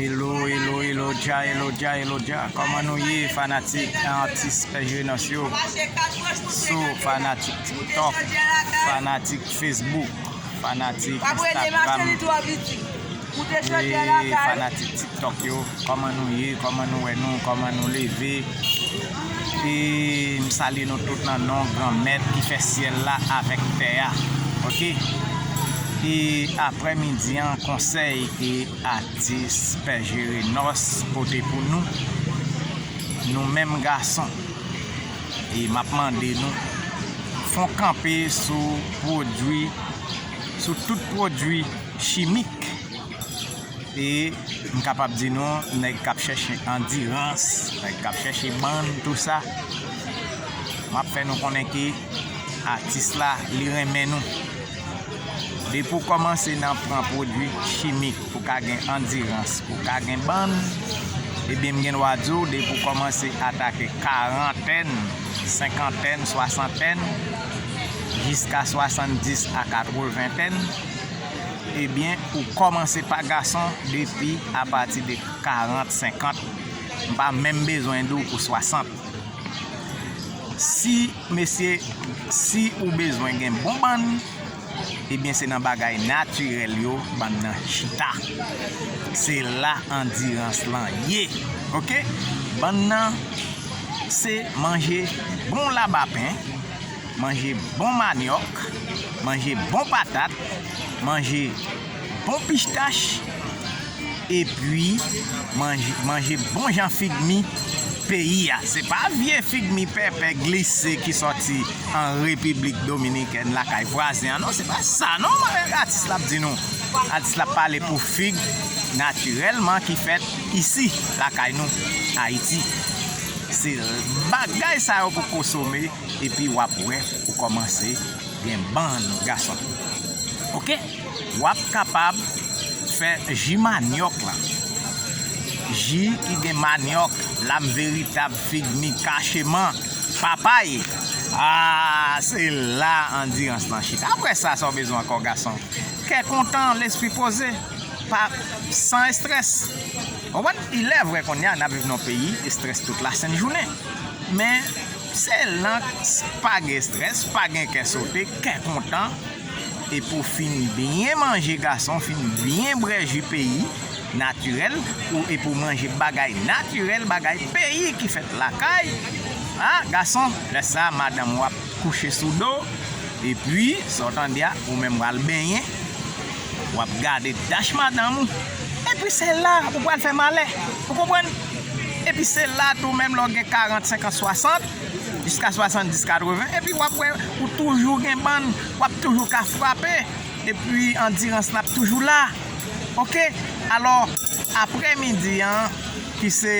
Elo elo elo dja elo dja elo dja koman nou ye fanatik an atis pè jenòs yo so fanatik tiktok fanatik fesbouk fanatik instagram eee fanatik tiktok yo koman nou ye koman nou wè nou koman nou leve. E m salye nou tout nan non Granmèt ki fè syèl la avèk tè a. Ok. E aprè midi an konsèy ke atis Pè Jerenòs pote pou nou, nou menm gason. E m ap mande nou fon kanpe sou pwodwi, sou tout pwodwi chimik. E m kapab di nou nèg k ap chèche andirans, nèg k ap chèche bann tou sa, m ap fè nou konnen ke atis la li renmen nou. Depi w kòmanse nan pran pwodui chimik pou w ka gen andirans, pou w ka gen bann, ebyen m gen dwa di w depi w kòmanse atake karantèn, senkantèn, swasantèn, jiska swasanndis a katweventèn, Ebyen ou kòmanse pa gason depi apati de 40, 50, m pa menm bezwen di w pou 60. Si mesye si ou bezwen gen bon bann, ebyen se nan bagay natirèl yo bann nan chita. Se la andirans lan ye ok. Bann nan se manje bon labapen. Manje bon manyòk, manje bon patat, manje bon pichtach, epi manje bon jan fig mi peyi a. Se pa vye fig mi pèpè glise ki sòti an Repiblik Dominikèn lakay vwazen an non, se pa sa non atis la ap di nou. Atis la ap pale pou fig natirèlman ki fèt isi lakay nou Ayiti. Se bagay sa yo pou kosome. epi wap wè ou kòmanse gen bann gason ok wap kapab fè ji manyòk lan ji ki gen manyòk lam veritab fig mi kache man papay aa se la andirans lan chita aprè sa sa w bezwen ankò gason kè kontan lespri poze pa san estrès ou konprann ilè vre kounya nap viv nan yon peyi estrès tout la sent jounen men. Se lanks pa gen stress pa gen kè sote kè kontan e pou fin byen manje gason fin byen brè ju peyi natirèl pou e pou manje bagay natirèl bagay peyi ki fèt lakay a gason lè sa madanm ou ap kouche sou do epi sa w tande a ou menm pral benyen wap gade tach madanm ou epi se la ou pral fè malè ou konprann. Epi se la tou menm lè w gen 40, 50, 60, jiska 70, 80, epi w ap wè ou toujou gen bann, w ap toujou ka frape, epi andirans la ap toujou la. Ok, alò, apre midi an, ki se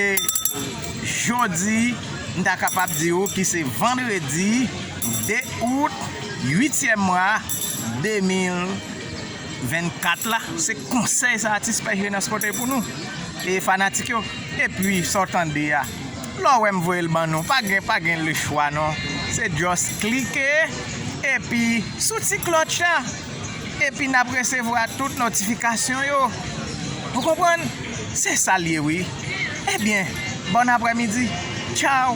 jodi, m ta kapab di ou ki se vandredi 2 out, uityèm mwa, 2000. 24 la se konsèy sa atis pè Jenas pote pou nou e fanatik yo epi sa w tande a lè w wè m voye l ban nou pa gen pa gen lechwa non se just klike epi sou ti klòtch la epi n ap resevwa tout notifikasyon yo ou konprann se sa l ye wi ebyen bòn aprèmidi tchaw.